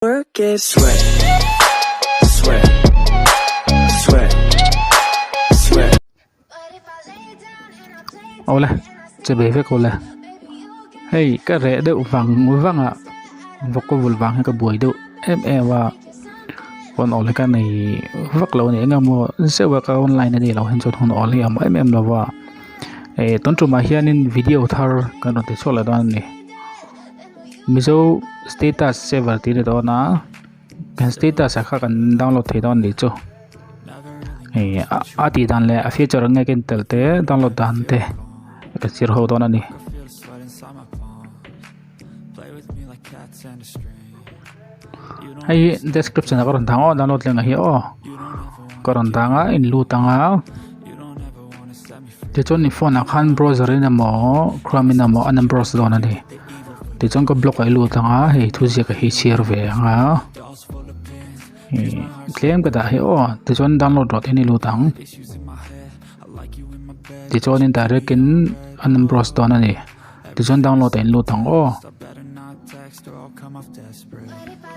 Work it. Sweat, sweat, sweat, sweat. Aw le, che be vek aw le. Hei, ka reh deuh vang vang a, vawk ka vul vang hi ka buai deuh em em a. Hun awl hi ka nei vak lo a ni, engemaw zeuh a ka rawn line a nih loh hian chuan hun awl hi a awm em em lo va. Eh, tun tumah hianin video thar kan rawn ti chhuak leh dawn a ni. Mizo status saver tih ni dawn a kan status ah kha kan download thei dawn ni chu hei a tih dan leh a feature ang nge ka intel te download dan te ka chhir ho dawn a ni. heihi description ah ka rawn tang aw download leh mahni aw ka rawn tang a in lut anga tichuan i phone ah khan browser in emaw chrome in emaw a na browse dawn a ni tichuan ka block ah i lut anga hei thu ziak a hi a chhiar ve ang a tlem ka dah hi aw tichuan download rawh tih in i lut ang tichuan in direct in a na browse dawn a ni. Tichuan download a in lut ang aw.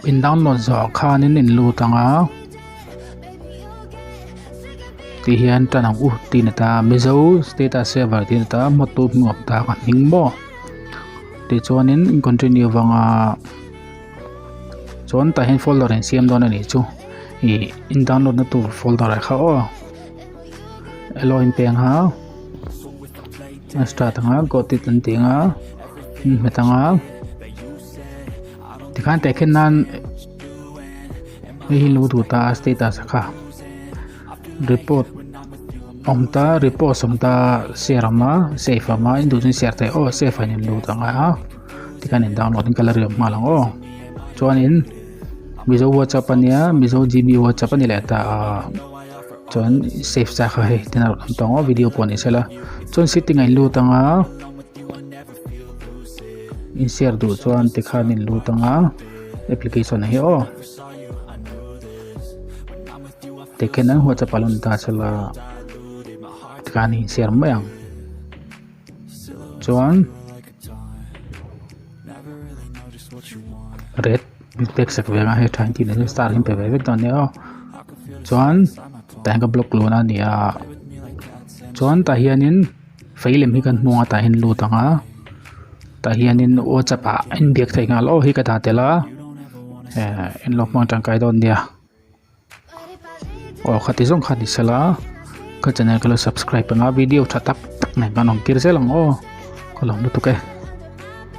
In download zawh khan in in lut ang a. Ti hian tan ang u ti na ta Mizo status saver ti na ta motu hmuh ta ka hming mo. Tichuan in continue vang a. Chuan ta hin folder in siam don a ni chu. I in download na tur folder kha aw. Eloin peng hau Start anga got it an ti nga Min hmet anga Tikhan te khen nan Hei lu thu ta status kha Report Om ta report som ta Share ama save ama in du zin share ta oh save a nen lu ta nga a Tikhan in download in kala riam hma lang aw Chuan in Mizo WhatsApp ania Mizo GB WhatsApp ani leh ta a chuan save chak a hei tina rawn awm ta ang ho video pawh a nih sela chuan setting a in lut anga in share duh chuan tikhan a in lut anga application ah hi aw tikhian an whatsapp a lan ta sela tikhan a in share mai ang. chuan red inpek sak vek a hei tha engtin alo star inpe ve vek dawn nia aw chuan tah hian ka block lûn a nia chuan tah hianin vei lem hi kan hmu a tah hian lut ang a tah hianin whatsapp ah inbiak thei nghal aw hi ka dah tel a eh in lawng hmang tangkai dawn nia. aw kha ti zawng kha ni sela ka channel ka lo subscribe panga video tha tak tak nen kan awm tir zel ang aw ka lawm lutuk e.